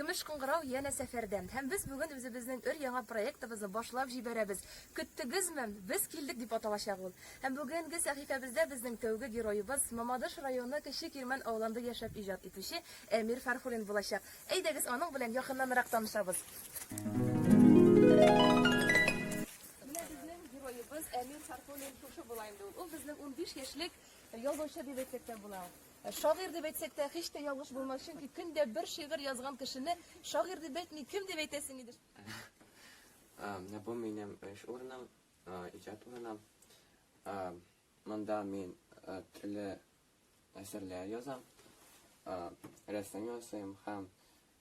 Көмеш кыңгырау яна сәфәрдә. Һәм без бүген үзебезнең өр яңа проектыбызны башлап җибәрәбез. Көттегезме? Без килдек дип аталачак ул. Һәм бүгенге сәхифәбездә безнең тәүге героебыз Мамадыш районы Кече Кирмән авылында яшәп иҗат итүче Әмир Фәрхулин булачак. Әйдәгез аның белән якыннанрак танышабыз. Менә безнең героебыз Әмир Фархуллин шушы була инде ул. Ул безнең 15 яшьлек язучы дип әйтсәк тә була. Шагыйрь дип әйтсәк тә һич тә ялгыш булмас, чөнки көндә бер шигырь язган кешене шагыйрь дип әйтми, кем дип әйтәсең иде? Менә бу минем эш урыным, иҗат урыным. Монда мин төрле әсәрләр язам, рәсем ясыйм һәм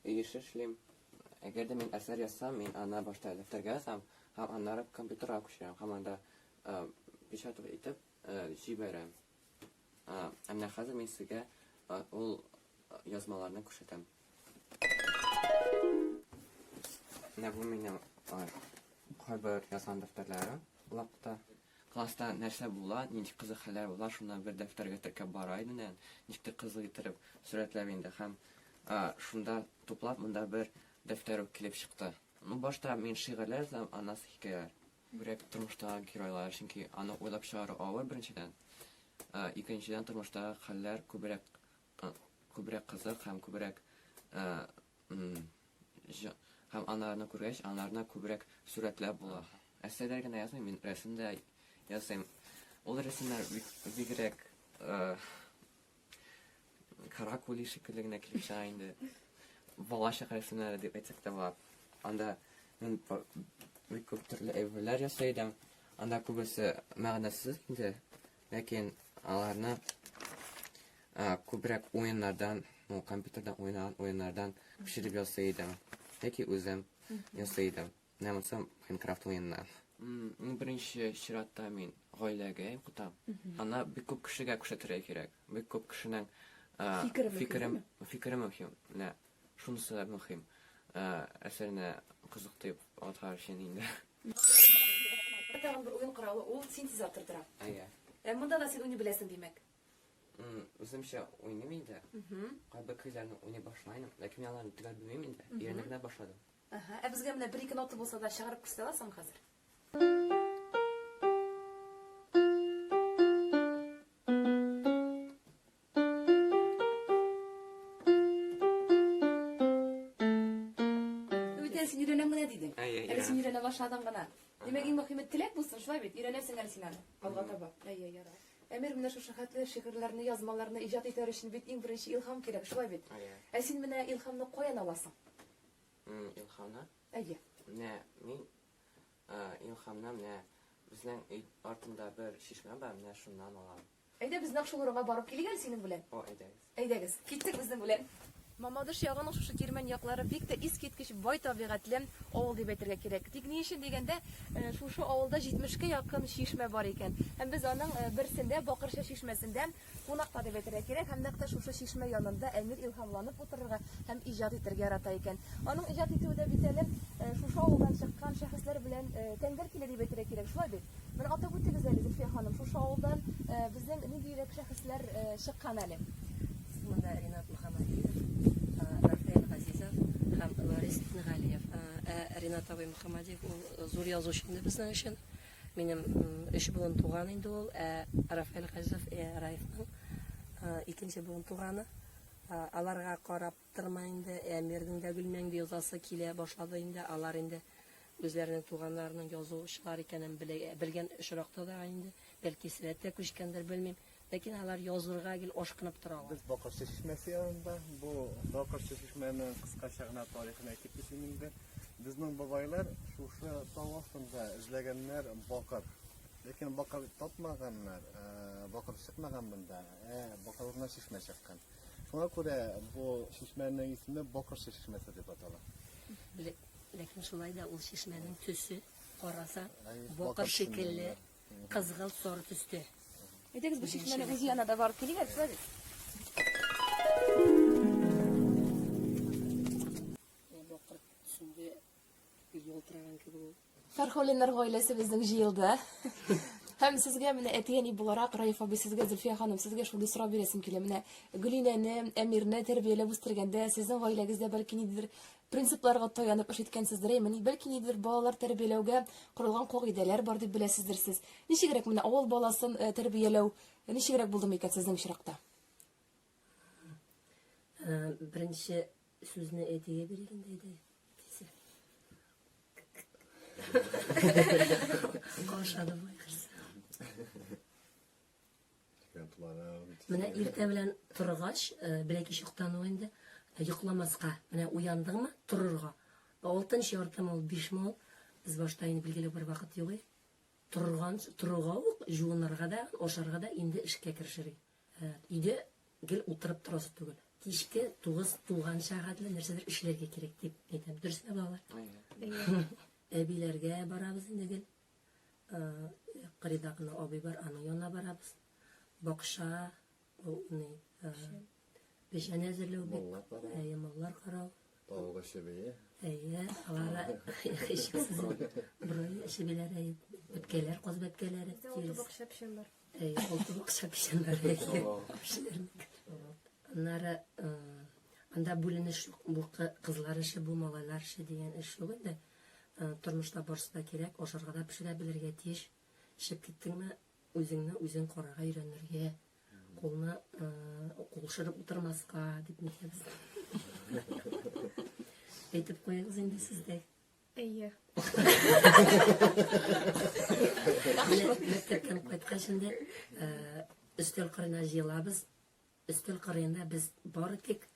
Өй эше эшлим. Әгәр дә мин әсәр язсам, мин аны башта дәфтәргә язам һәм аннары компьютерга күчерәм һәм анда печатать итеп җибәрәм. Ә менә хәзер мин сезгә ул язмаларны күрсәтәм. Менә бу минем кайбер язган дәфтәрләрем блокта. Класста нәрсә була, нинди кызык хәлләр була, шуны бер дәфтәргә теркәп бара идем дә, ничек тә кызык иттереп сурәтләп инде һәм шунда туплап монда бер дәфтәр үк килеп чыкты. Ну, башта мин шигырьләр язам, аннан соң хикәяләр. Бигрәк тормыштагы геройлар, чөнки аны уйлап чыгару авыр, беренчедән. Икенчедән, тормыштагы хәлләр күбрәк күбрәк кызык һәм күбрәк һәм анарны күргәч, анарны күбрәк сурәтләп була. Әсәрләр генә язмыйм, мин рәсем дә ясыйм. Ул рәсемнәр бигрәк каракули шикелле генә килеп чыга инде. Балачак рәсемнәре дип әйтсәк тә була. Анда мин бик күп төрле әйберләр ясый идем. Анда күбесе мәгънәсез инде. Ләкин аларны күбрәк уеннардан, ну, компьютерда уйнаган уеннардан пешереп ясый идем. Яки үзем ясый идем. Менә монысы Майнкрафт уеннан. Ну, беренче чиратта мин гаиләгә укытам. Ана бик күп кешегә күрсәтергә кирәк. Бик күп кешенең фикере мөһим. Фикере мөһим. Менә Шунысы да мөһим. Әсәрне кызык дип атар өчен инде. Тагын бер уен коралы ул синтезатор тора. Әйе. Ә монда да син уйный беләсең, димәк. Үземчә уйныйм инде. Кайбер көйләрне уйный башлайм, ләкин мин аларны төгәл белмим инде. Өйрәнеп кенә башладым. Әһә. Ә безгә менә бер-ике нота булса да чыгарып күрсәтә аласыңмы хәзер? Бүтән син өйрәнәм генә дидең. Әйе, Әле өйрәнәм. син өйрәнә башладың гына. Димәк, иң мөхиме теләк булсын, шулай бит? Өйрәнерсең әле син аны. Алга таба. Әйе, ярар. Әмир, менә шушы хәтле шигырьләрне, язмаларны иҗат итәр өчен бит иң беренче илһам кирәк, шулай бит? Әйе. Ә син менә илһамны каян аласың? М, Илхамны. Әйе. Менә мин э, илхамны менә безнең өй артында бер чишмә бар, менә шуннан алам. Әйдә, без нәкъ шул урынга барып килик әле синең белән. О, әйдәгез. Әйдәгез, китсек безнең белән. Мамадыш ягының шушы Тирмән яклары бик тә искиткеч бай табигатьле авыл дип әйтергә кирәк. Тик ни өчен дигәндә, шушы авылда 70 кә якын чишмә бар икән. Һәм без аның берсендә, Бакырча чишмәсендә кунакта дип әйтергә кирәк. Һәм нәкъ тә шушы чишмә янында Әмир илһамланып утырырга һәм иҗат итәргә ярата икән. Аның иҗат итүе дә бит әле шушы авылдан чыккан шәхесләр белән тәңгәл килә дип әйтергә кирәк, шулай бит? Бер атап үтегез әле, Зөлфия ханым, шушы авылдан безнең ниндирәк шәхесләр чыккан әле? Монда Ринат Мөхәммәдиев, Рафаэль Газизов һәм Ларис Итнегалиев. Ә Ринат абый Мөхәммәдиев ул зур язучы инде безнең өчен. Минем өч буын туган инде ул, ә Рафаэль Газизов Раевның икенче буын туганы. Аларга карап Тырма инде, Әмирнең дә Гөлмәңге язасы килә башлады инде, алар инде үзләренең туганнарының язучылар икәнен белгән очракта да инде, бәлки сәләт тә күчкәндер, белмим, ләкин алар язырга гел ашкынып торалар. Без Бакырчы чишмәсе янында, бу Бакырчы чишмәнең кыскача гына тарихын әйтеп китим инде. Безнең бабайлар шушы тау астында эзләгәннәр бакыр. Ләкин бакыр тапмаганнар, бакыр чыкмаган монда, ә бакырына чишмә чыккан. Шуңа күрә бу чишмәнең исеме Бокырчы чишмәсе дип атала. Ләкин шулай да ул чишмәнең төсе караса бокыр шикелле кызгылт соры төстә. Әйдәгез бу чишмәнең үз янына да барып килик, әйтсәгез. Ялтыраган кебек ул. Фәрхулиннар гаиләсе безнең җыелды. Һәм сезгә менә әтигәни буларак Раиф абый сезгә Зөлфия ханым сезгә шундый сорау бирәсем килә. Менә Гөлинәне, Әмирне тәрбияләп үстергәндә сезнең гаиләгездә бәлки ниндидер принципларга таянып эш иткәнсездер, әйме, бәлки ниндидер балалар тәрбияләүгә корылган кагыйдәләр бар дип беләсездер сез. Ничегрәк менә авыл баласын э, тәрбияләү э, ничегрәк булдымы икән сезнең очракта? Беренче сүзне әйтегә биргәндә дә әйтәсе. Каушады бу ихрса. Менә иртә белән торгач, э, беләки чуктан ул инде э, йокламаска, менә уяндыңмы, торырга. Алтынчы яртым ул 5 мол. Без башта инде билгеле бер вакыт югый. Торган, торуга ук, жуынырга да, ашарга да инде эшкә керешерик. Өйдә гел утырып торасы түгел. Кичке тугыз тулганча гадел нәрсәдер эшләргә кирәк дип әйтәм. Дөресме, балалар? Әбиләргә барабыз инде гел. Кырыйда гына абый бар, аның янына барабыз. Бакча, ул ни, печән әзерләү бит, ямаулар карау, Тавык эше бие. Әйе, аларга хичксез брои эше биләр әйе. Үткәләр, каз бәткәләре. Табак шәпшәләр. Әйе, ул табак шәпшәләр. Аннары анда бүленеш юк. Бу кызлар эше, бу малайлар эше дигән эш юк инде. Тормышта барсы да кирәк, ашарга да пешерә белергә тиеш. Шеп киттеңме, Үзеңне үзең карарга өйрәнергә, кулны кулшырып утырмаска дип нитәбез. Әйтеп куегыз инде сез дә. Әйе. Мәктәптән кайткач инде өстәл кырына җыелабыз. Өстәл кырыенда без бары тик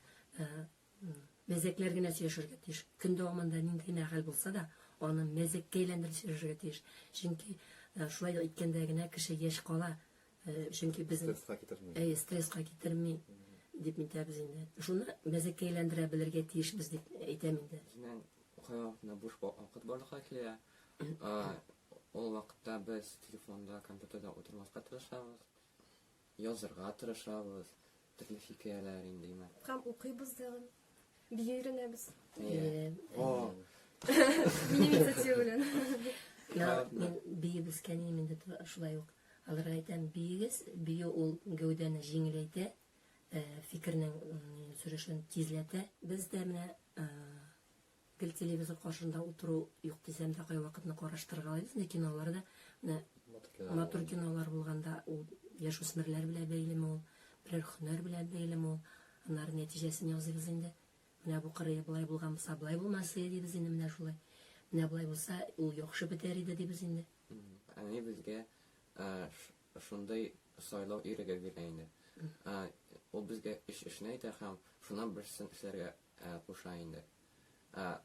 мәзәкләр генә сөйләшергә тиеш. Көн дәвамында нинди генә хәл булса да, аны мәзәккә әйләндереп сөйләшергә тиеш. Чөнки шулай иткәндә генә кеше яшь кала. Чөнки без стресска китерми. Әйе, стресска китерми дип әйтәбез инде. Шуны мәзәккә әйләндерә белергә тиешбез дип әйтәм инде. Безнең укыган вакытында буш вакыт барлыкка килә. Ул вакытта без телефонда, компьютерда утырмаска тырышабыз. Язырга тырышабыз, төрле хикәяләр инде имә. Һәм укыйбыз тагын. Бия өйрәнәбез. Әйе. О. Минем инициатива белән. Я, мин биеп үскән идем инде шулай ук. Аларга әйтәм, биегез, бию ул гәүдәне җиңеләйтә, фикернең сөрешен тизләтә. Без дә менә Гел телевизор каршында утыру юк дисәм дә, кайвакытны караштырырга алабыз, ләкин алар да менә матур кинолар булганда, ул яшүсмерләр белән бәйлеме ул, берәр һөнәр белән бәйлеме ул, аннары нәтиҗәсен ясыйбыз инде. Менә бу кырые болай булган булса, болай булмасы дибез инде менә шулай. Менә болай булса, ул яхшы бетәр иде дибез инде. Әни безгә шундый сайлау иреге бирә инде. Ул безгә өч эшне әйтә һәм шуннан берсен эшләргә куша инде. Ә,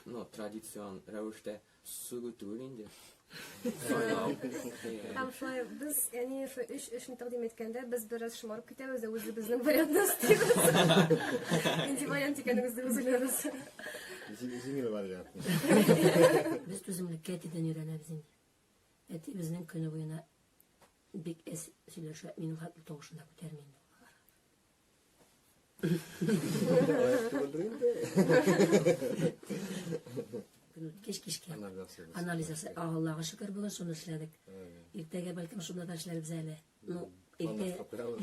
ну, традицион рәвештә сүгү түгел инде. Һәм шулай без, яни шул өч эшне тәкъдим иткәндә, без бераз шомарып китәбез дә үзебезнең вариантны стилибез. Инде вариант икәнебезне үзләребез. Җиңел вариант. Без түземлеккә әтидән өйрәнәбез инде. Әти безнең көне буена бик әс сөйләшә, минем хәтле тавышында күтәрмәйме? Кеш кешкә. Анализасы. Аллага шөкер бүген шуны эшләдек. Иртәгә бәлкем шунда да эшләрбез әле. Ну, иртә.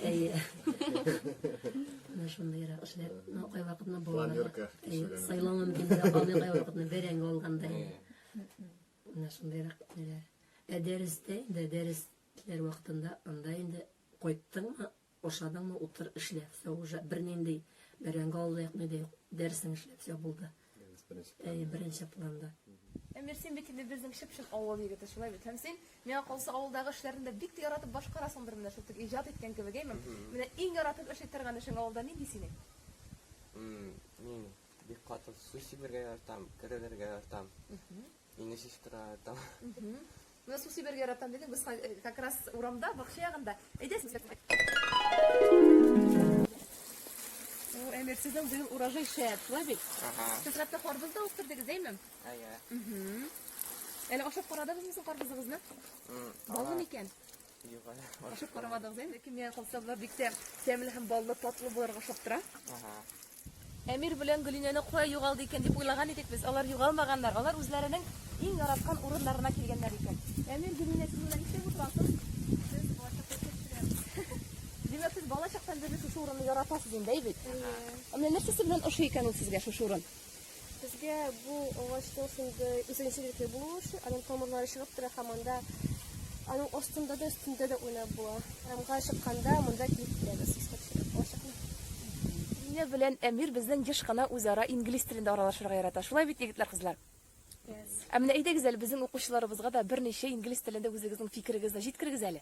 Әйе. Менә шундый яра эшләр. Ну, кай вакытны булганда. Сайланган кендә аны кай вакытны бәрәң алганда. Менә шундый яра ниләр. Ә дәрестә, дә дәресләр вакытында анда инде кайттыңмы? Ашадыңмы, утыр, эшлә, всё уже, бернинди бәрәңге алу да юк, ни дә юк, дәресең эшлә, всё булды. Дәрес беренче планда. Әйе, беренче планда. Әмир, син бит инде безнең чып-чын авыл егете, шулай бит? Һәм син, миңа калса, авылдагы эшләрне дә бик тә яратып башкарасыңдыр менә шул тик иҗат иткән кебек, әйме? Менә иң яратып эшли торган эшең авылда нинди синең? Мин бик каты су сибергә яратам, керелергә яратам. Мине сестра там. Менә су сибәргә яратам дидең, без э, как раз урамда, бакча ягында. Әйдәсез. О, Эмир, сезнең быел урожай шәп, шулай бит? Ага. Сез хәтта карбыз да үстердегез, әйме? Әйе. Әле ашап карадыгызмы соң карбызыгызны? Баллы микән? Юк әле. Ашап карамадыгыз инде, кемгә калса болар бик тә тәмле һәм баллы, татлы булырга ошап тора. Ага. Әмир белән Гөлинәне кая югалды икән дип уйлаган идек без. Алар югалмаганнар. Алар үзләренең иң яраткан урыннарына килгәннәр икән. Әмир Гөлинә сез менә нишләп утырасыз? Без балачакта төшерәбез. Димәк, сез балачактан бирле шушы урынны яратасыз инде, әй бит? Менә нәрсәсе белән ошый икән ул сезгә шушы урын? Безгә бу агачның шундый үзенчәлекле булуы өчен аның тамырлары чыгып тора һәм анда аның астында да өстендә дә уйнап була. Урамга чыкканда монда килеп китәбез. Лилия белән Әмир безнең еш кына үзара инглиз телендә аралашырга ярата. Шулай бит, егетләр, кызлар? Yes. Ә менә әйдәгез әле безнең укучыларыбызга да берничә инглиз телендә үзегезнең фикерегезне җиткерегез әле.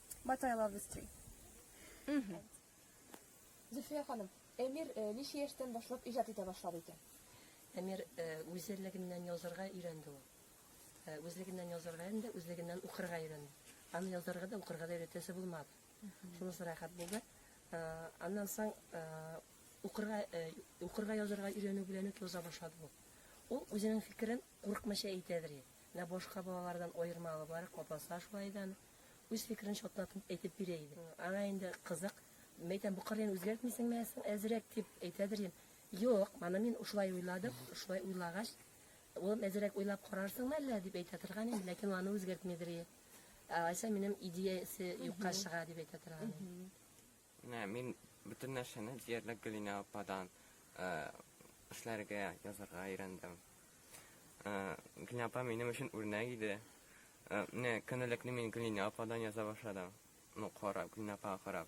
But I love this tree. Мгм. Зөлфия ханым, Эмир э, ничә яшьтән башлап иҗат итә башлады икән? Әмир э, үзлегеннән язарга өйрәнде ул. Э, Үзлегеннән язарга инде, үзлегеннән укырга өйрәнде. Аны язарга да, укырга да өйрәтәсе булмады. Шунысы рәхәт булды. Э, Аннан соң э, укырга э, укырга язарга өйрәнү белән үк яза башлады ул. Ул үзенең фикерен курыкмыйча әйтәдер. Менә башка балалардан аермалы бар, капаса шулай да. аны. Үз фикерен чатнатып әйтеп бирә иде. Аңа инде кызык, мәйтәм, бу кырыен үзгәртмисеңме соң әзрәк дип әйтәдер идем. Юк, моны мин шулай уйладым, шулай уйлагач, улым, әзрәк уйлап карарсыңмы әллә, дип әйтә торган идем, ләкин аны үзгәртмидер иде. Алайса минем идеясе юкка чыга, дип әйтә торган идем. Менә мин бөтен нәрсәне диярлек Гөлинә ападан эшләргә, язарга өйрәндем. Гөлинә апа минем өчен үрнәк иде. Менә көндәлекне мин Гөлинә ападан яза башладым. Ну, карап, Гөлинә апага карап.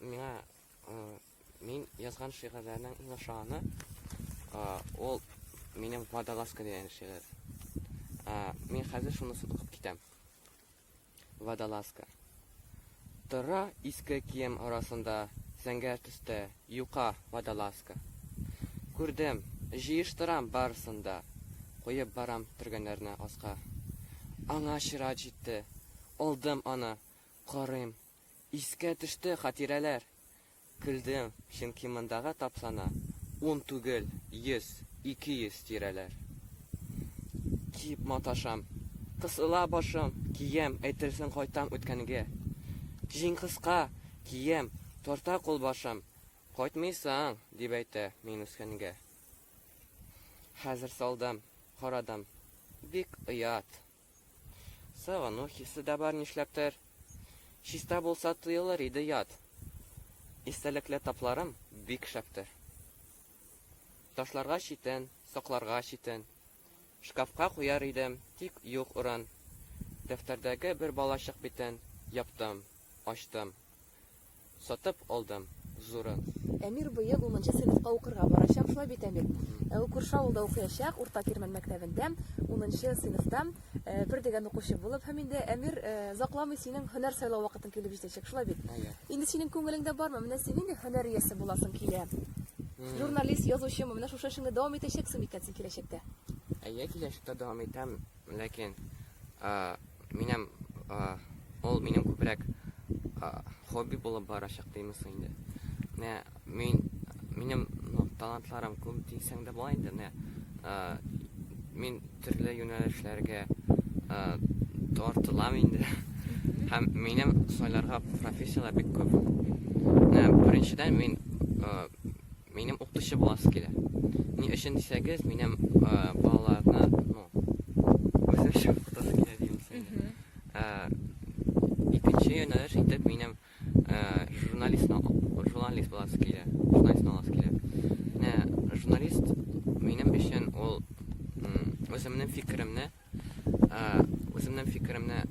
Миңа мин язган шигырьләрнең иң ошаганы ул минем водолазка дигән шигырь. Мин хәзер шуны сутыгып китәм. Водолазка. Тора иске кием арасында зәңгәр төстә юка водолазка. Күрдем, җыештырам барысында, куеп барам төргәннәрне аска. Аңа чират җитте, алдым аны, карыйм, Искә төште хатирәләр! Көлдем, чөнки мондагы тапсана ун түгел, йөз, ике йөз тирәләр. Дип маташам. Кысыла башым, кием, әйтерсең кайтам үткәнге. Җиң кыска, кием, тарта кулбашым, кайтмыйсың, дип әйтә мин үскәнгә. Хәзер салдым, карадым, бик оят. Сагыну хисе дә бар нишләптер. Чиста булса тоелыр иде ят. Истәлекле тапларым бик шәптер. Ташларга читен, сакларга читен. Шкафка куяр идем, тик юк урын. Дәфтәрдәге бер балачык битен яптым, ачтым. Сатып алдым зурын. Әмир быел унынчы сыйныфка укырга барачак, шулай бит, Әмир? Ә ул күрше авылда укыячак, Урта Кирмән мәктәбендә, унынчы сыйныфта, бер дигән укучы булып. Һәм инде, Әмир, озакламый синең һөнәр сайлау вакытың килеп җитәчәк, шулай бит? Инде синең күңелеңдә бармы, менә син нинди һөнәр иясе буласың килә? Журналист, язучымы? Менә шушы эшеңне дәвам итәчәксеңме икән син киләчәктә? Әйе, киләчәктә дәвам итәм. Ләкин минем ул минем күбрәк хобби булып барачак димесең инде. Менә мин минем ну, талантларым күп дисәң дә була инде. Менә мин төрле юнәлешләргә тартылам инде. Һәм минем сайларга профессияләр бик күп. Менә беренчедән мин Минем укытучы буласы килә. Ни өчен дисәгез, минем ә, балаларны, ну, үзем өчен укытасы килә дим синде. Ә, икенче юнәлеш итеп минем ә, журналист журналист буласы килә. Журналист буласы килә. Менә журналист минем өчен ул үземнең фикеремне үземнең фикеремне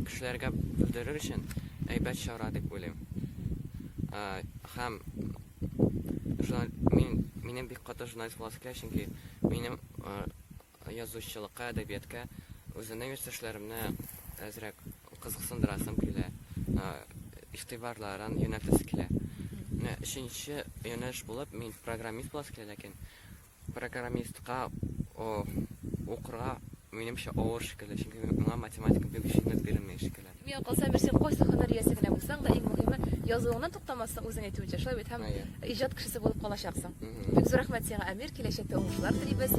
кешеләргә белдерер өчен әйбәт чара дип уйлыйм һәм мин минем бик каты журналист буласы килә чөнки минем язучылыкка әдәбиятка үземнең яшьтәшләремне әзрәк кызыксындырасым килә игътибарларын юнәлтәсе килә өченче юнәлеш булып мин программист буласы килә ләкин Программистка укырга минемчә авыр шикелле, чөнки моңа математика бик җиңел бирелми шикелле. Миңа калса, Мирсин, кайсы һөнәр иясе генә булсаң да, иң мөһиме, язуыңнан туктамассың, үзең әйтүенчә, шулай бит, һәм иҗат кешесе булып калачаксың. Бик зур рәхмәт сиңа, Әмир, киләчәктә уңышлар телибез.